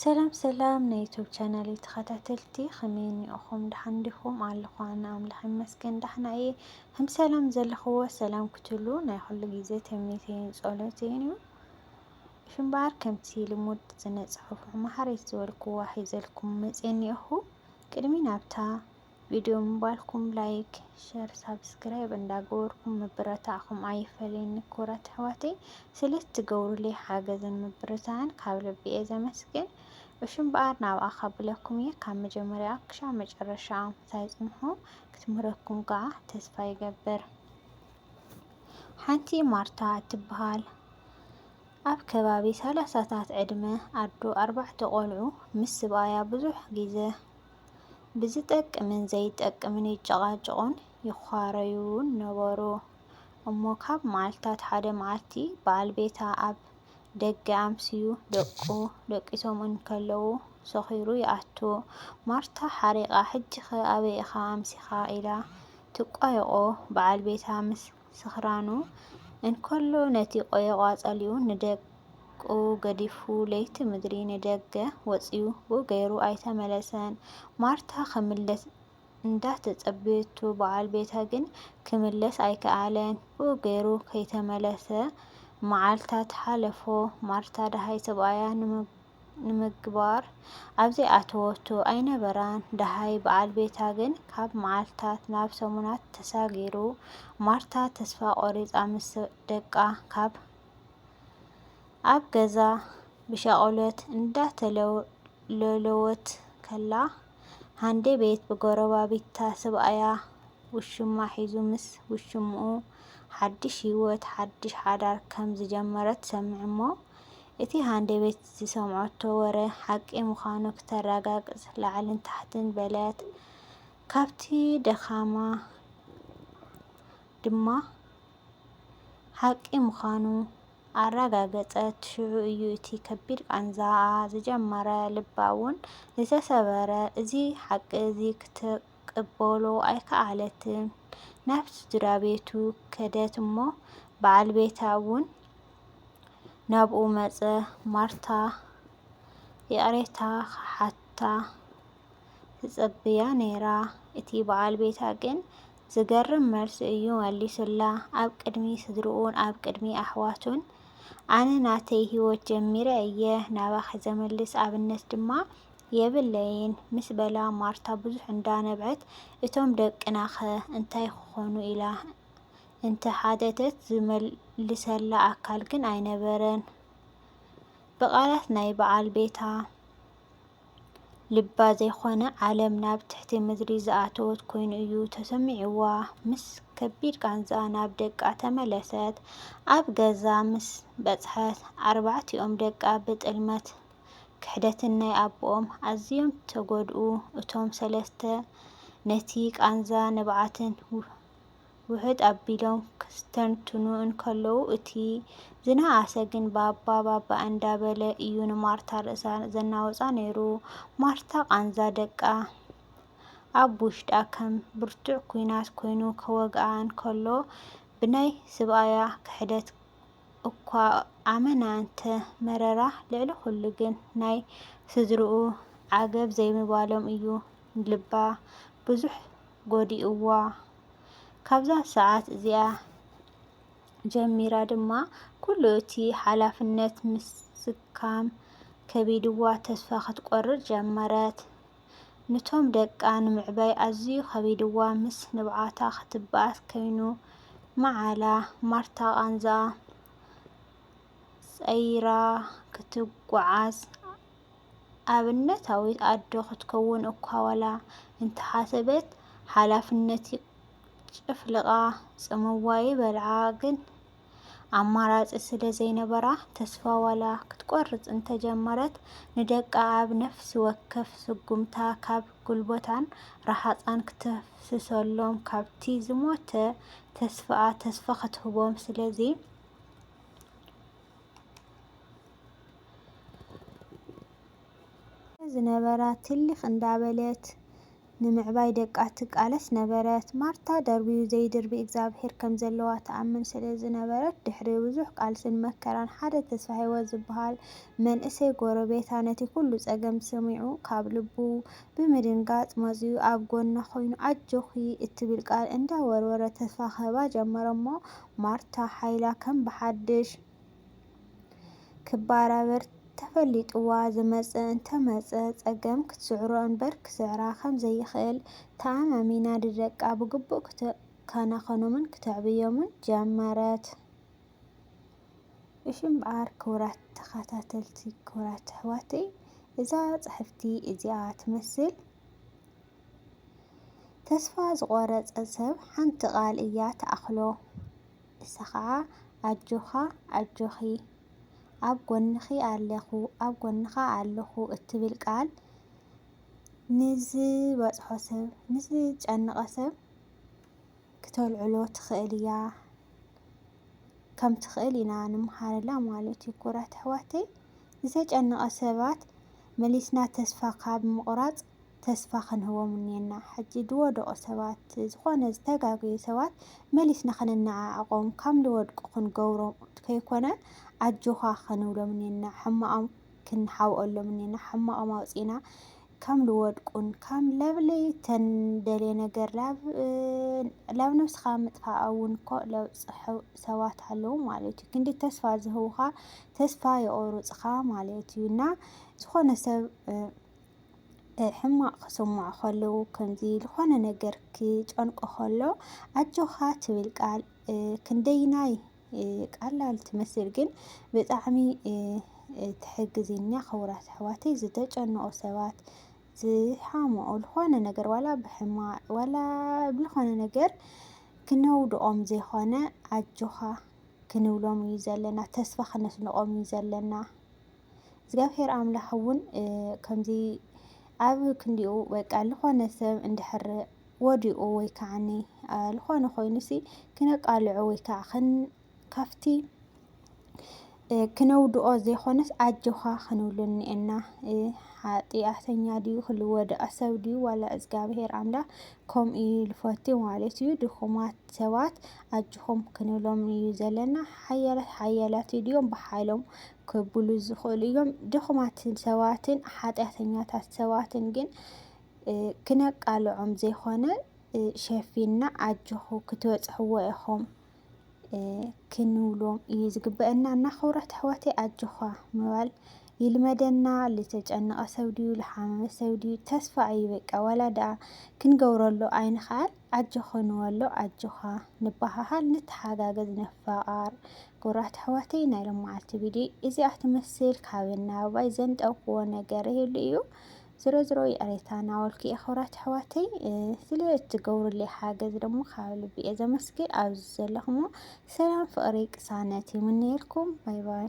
ሰላም ሰላም ናይ ዩቱብ ቻናለይ ተኸታተልቲ ከመይ እኒኦኹም ደሓን ዲኹም? ኣለኹ ኣነ ኣምላኽ ይመስገን ደሕና እየ። ከም ሰላም ዘለኽዎ ሰላም ክትሉ ናይ ኩሉ ግዜ ትምኒተይን ጸሎተይን እዩ። እሺ እምበኣር ከምቲ ልሙድ ስነ ጽሑፍ መሃሪት ዝበልክዋ ሒዘልኩም መጽየ እኒኦኹ። ቅድሚ ናብታ ቪድዮ ምባልኩም ላይክ ሸር ሳብስክራይብ እንዳገበርኩም ምብረታዕኩም ኣይፈለየኒ ክቡራት ኣሕዋተይ ስለ እትገብሩለይ ሓገዝን ምብርታዕን ካብ ልቢ እየ ዘመስግን እሹ እምበኣር ናብኣ ካብለኩም እየ ካብ መጀመርያ ክሻ መጨረሻ ኣምሳይ ፅንሑ ክትምህረኩም ከዓ ተስፋ ይገብር ሓንቲ ማርታ እትበሃል ኣብ ከባቢ ሰላሳታት ዕድመ ኣዶ ኣርባዕተ ቆልዑ ምስ ስብኣያ ብዙሕ ግዜ ብዝጠቅምን ዘይጠቅምን ይጨቓጨቑን ይዃረዩን ነበሩ። እሞ ካብ መዓልትታት ሓደ መዓልቲ፣ በዓል ቤታ ኣብ ደገ ኣምስዩ ደቁ ደቂሶም እንከለዉ ሰኺሩ ይኣቱ። ማርታ ሓሪቓ ሕጂኸ ኣበይ ኢኻ ኣምሲኻ? ኢላ ትቋየቖ። በዓል ቤታ ምስ ስኽራኑ እንከሎ ነቲ ቆየቛ ጸሊኡ ንደቁ ገዲፉ ለይቲ ምድሪ ንደገ ወጺኡ ብ ገሩ ኣይተመለሰን። ማርታ ክምለስ እንዳ ተጸበየቶ በዓል ቤታ ግን ክምለስ ኣይከኣለን ብ ገሩ ከይተመለሰ መዓልታት ሓለፎ። ማርታ ደሃይ ሰብኣያ ንምግባር ኣብ ዘይኣተወቶ ኣይነበራን። ደሃይ በዓል ቤታ ግን ካብ መዓልታት ናብ ሰሙናት ተሳጊሩ። ማርታ ተስፋ ቆሪጻ ምስ ደቃ ካብ ኣብ ገዛ ብሻቁለት እንዳተለወት ከላ ሃንዴ ቤት ብጎረባቢታ ስብኣያ ውሽማ ሒዙ ምስ ውሽምኡ ሓድሽ ሂወት ሓድሽ ሓዳር ከም ዝጀመረት ትሰምዕ'ሞ እቲ ሃንደበት ዝሰምዐቶ ወረ ሓቂ ምዃኑ ክተረጋግጽ ላዕልን ታሕትን በለት። ካብቲ ደኻማ ድማ ሓቂ ምዃኑ ኣረጋገጸት። ሽዑ እዩ እቲ ከቢድ ቃንዛኣ ዝጀመረ፣ ልባ እውን ዝተሰበረ። እዚ ሓቂ እዚ ክትቅበሎ ኣይከኣለትን። ናብ ስድራ ቤቱ ከደት እሞ በዓል ቤታ እውን ናብኡ መጸ። ማርታ ይቕሬታ ክሓታ ትጽብያ ነይራ፣ እቲ በዓል ቤታ ግን ዝገርም መልሲ እዩ መሊሱላ። ኣብ ቅድሚ ስድርኡን ኣብ ቅድሚ ኣሕዋቱን ኣነ ናተይ ህይወት ጀሚረ እየ፣ ናባኺ ዘምልስ ኣብነት ድማ የብለይን ምስ በላ ማርታ ብዙሕ እንዳ ነብዐት እቶም ደቅና'ኸ እንታይ ክኾኑ ኢላ እንተ ሓተተት ዝመልሰላ ኣካል ግን ኣይነበረን ብቓላት ናይ በዓል ቤታ ልባ ዘይኮነ ዓለም ናብ ትሕቲ ምድሪ ዝኣተወት ኮይኑ እዩ ተሰሚዕዋ ምስ ከቢድ ቃንዛ ናብ ደቃ ተመለሰት ኣብ ገዛ ምስ በጽሐት ኣርባዕቲኦም ደቃ ብጥልመት ክሕደትን ናይ ኣቦኦም ኣዝዮም ተጎድኡ እቶም ሰለስተ ነቲ ቃንዛ ንብዓትን ውሕጥ ኣቢሎም ክስተንትኑ እንከለዉ እቲ ዝነኣሰ ግን ባባ ባባ እንዳ በለ እዩ ንማርታ ርእሳ ዘናውጻ ነይሩ ማርታ ቃንዛ ደቃ ኣብ ውሽጣ ከም ብርቱዕ ኩናት ኮይኑ ከወግኣ እንከሎ ብናይ ስብኣያ ክሕደት እኳ ኣመና እንተ መረራ፣ ልዕሊ ኹሉ ግን ናይ ስድርኡ ዓገብ ዘይምባሎም እዩ ልባ ብዙሕ ጎዲኡዋ። ካብዛ ሰዓት እዚኣ ጀሚራ ድማ ኩሉ እቲ ሓላፍነት ምስካም ከቢድዋ ተስፋ ክትቆርጽ ጀመረት። ንቶም ደቃ ንምዕባይ ኣዝዩ ከቢድዋ ምስ ንብዓታ ክትብኣስ ከይኑ ምዓላ ማርታ ቃንዝኣ ጸይራ ክትጉዓዝ ኣብነታዊት ኣዶ ክትከውን እኳ ዋላ እንተሓሰበት ሓላፍነት ጨፍልቃ ጽምዋ ይበልዓ ግን ኣማራፂ ስለ ዘይነበራ ተስፋ ዋላ ክትቆርፅ እንተጀመረት ንደቃ ኣብ ነፍሲ ወከፍ ስጉምታ ካብ ጉልበታን ረሃፃን ክተፍስሰሎም ካብቲ ዝሞተ ተስፋኣ ተስፋ ክትህቦም ስለዚ ዝነበራ ትልኽ እንዳበለት ንምዕባይ ደቃ ትቃለስ ነበረት። ማርታ ደርብዩ ዘይድርቢ እግዚኣብሔር ከም ዘለዋ ትኣምን ስለ ዝነበረት፣ ድሕሪ ብዙሕ ቃልስን መከራን ሓደ ተስፋሂወት ዝብሃል መንእሰይ ጎረቤታ ነቲ ኩሉ ጸገም ሰሚዑ ካብ ልቡ ብምድንጋጽ መጺኡ ኣብ ጎና ኮይኑ ኣጆኺ እትብል ቃል እንዳ ወርወረ ተስፋ ክህባ ጀመረ'ሞ ማርታ ሓይላ ከም ብሓድሽ ክባራበር ተፈሊጥዋ ዝመጸ እንተመጸ ጸገም ክትስዕሮ እንበር ክስዕራ ከም ዘይክእል ተኣማሚና ንደቃ ብግቡእ ክትከናኸኖምን ክተዕብዮምን ጀመረት። እሺ እምበኣር ክቡራት ተኸታተልቲ ክቡራት ኣሕዋተይ እዛ ጽሕፍቲ እዚኣ ትመስል ተስፋ ዝቖረጸ ሰብ ሓንቲ ቃል እያ ትኣኽሎ። ንሳ ኸኣ ኣጆኻ ኣጆኺ ኣብ ጎንኺ ኣለኹ ኣብ ጎንኻ ኣለኹ እትብል ቃል ንዝበጽሖ ሰብ ንዝጨነቐ ሰብ ክተልዕሎ ትኽእል እያ ከም ትኽእል ኢና ንምሃረላ ማለት እዩ ኩራት ኣሕዋተይ ዝተጨነቐ ሰባት መሊስና ተስፋ ካብ ምቑራጽ ተስፋ ክንህቦም እኒኤና። ሕጂ ዝወደቑ ሰባት፣ ዝኾነ ዝተጋገዩ ሰባት መሊስና ከነነዓዕቖም፣ ካብ ዝወድቁ ክንገብሮም ከይኮነ ኣጆኻ ክንብሎም እኒኤና። ሕማቖም ክንሓብኦሎም እኒኤና። ሕማቖም ኣውጺእና ከም ዝወድቁን ከም ለብለይ ተንደልየ ነገር ላብ ላብ ነብስኻ ምጥፋእ እውን እኮ ለብጽሑ ሰባት ኣለዉ ማለት እዩ። ክንዲ ተስፋ ዝህቡኻ ተስፋ የቑርጽኻ ማለት እዩ እና ዝኾነ ሰብ ሕማቕ ክስምዖ ከሎ ከምዚ ዝኾነ ነገር ክጨንቆ ከሎ ኣጆኻ ትብል ቃል ክንደይናይ ቀላል ትመስል ግን ብጣዕሚ ትሕግዝኛ ክቡራት ኣሕዋተይ ዝተጨነቑ ሰባት ዝሓምኡ ዝኾነ ነገር ዋላ ብሕማቕ ዋላ ብዝኾነ ነገር ክነውድቖም ዘይኮነ ኣጆኻ ክንብሎም እዩ ዘለና ተስፋ ክነስንቖም እዩ ዘለና እግዚኣብሔር ኣምላኽ እውን ከምዚ ኣብ ክንዲኡ በቃ ዝኾነ ሰብ እንድሕር ወዲቑ ወይ ከዓኒ ዝኾነ ኮይኑሲ ክነቃልዖ ወይ ከዓ ካብቲ ክነውድኦ ዘይኮነስ ኣጆኻ ክንብሉ እኒኤና። ሓጢኣተኛ ድዩ ክልወደኣ ሰብ ድዩ ዋላ እግዚኣብሔር ኣምላኽ ከምኡ እዩ ልፈቲ ማለት እዩ። ድኹማት ሰባት ኣጆኹም ክንብሎም እዩ ዘለና። ሓያላት ሓያላት ድዮም ብሓይሎም ከብሉ ዝኽእሉ እዮም። ድኹማትን ሰባትን ሓጢኣተኛታት ሰባትን ግን ክነቃልዖም ዘይኮነ ሸፊንና ኣጆኹ ክትበፅሕዎ ኢኹም ክንብሎም እዩ ዝግበአና እና ክብረት ኣሕዋተይ ኣጆኻ ምባል ይልመደና። ዝተጨነቐ ሰብ ድዩ ዝሓመመ ሰብ ድዩ ተስፋ እዩ በቃ ዋላ ደኣ ክንገብረሉ ኣይንኽኣል ኣጆኺ ንበሎ ኣጆኻ ንበሃሃል ንተሓጋገዝ ንፋቓር ኩቡራት ኣሕዋተይ ናይ ሎማዓልቲ ቪድዮ እዚኣ ትመስል ካብን ናብባይ ዘንጠብክዎ ነገር ይህሉ እዩ ዝሮ ዝሮ ይቕሬታ ናበልኩ እየ ክቡራት ኣሕዋተይ ስለ እትገብሩለይ ሓገዝ ደሞ ካብ ልቢ እየ ዘመስግን ኣብዚ ዘለኹሞ ሰላም ፍቕሪ ቅሳነት ይምነየልኩም ባይ ባይ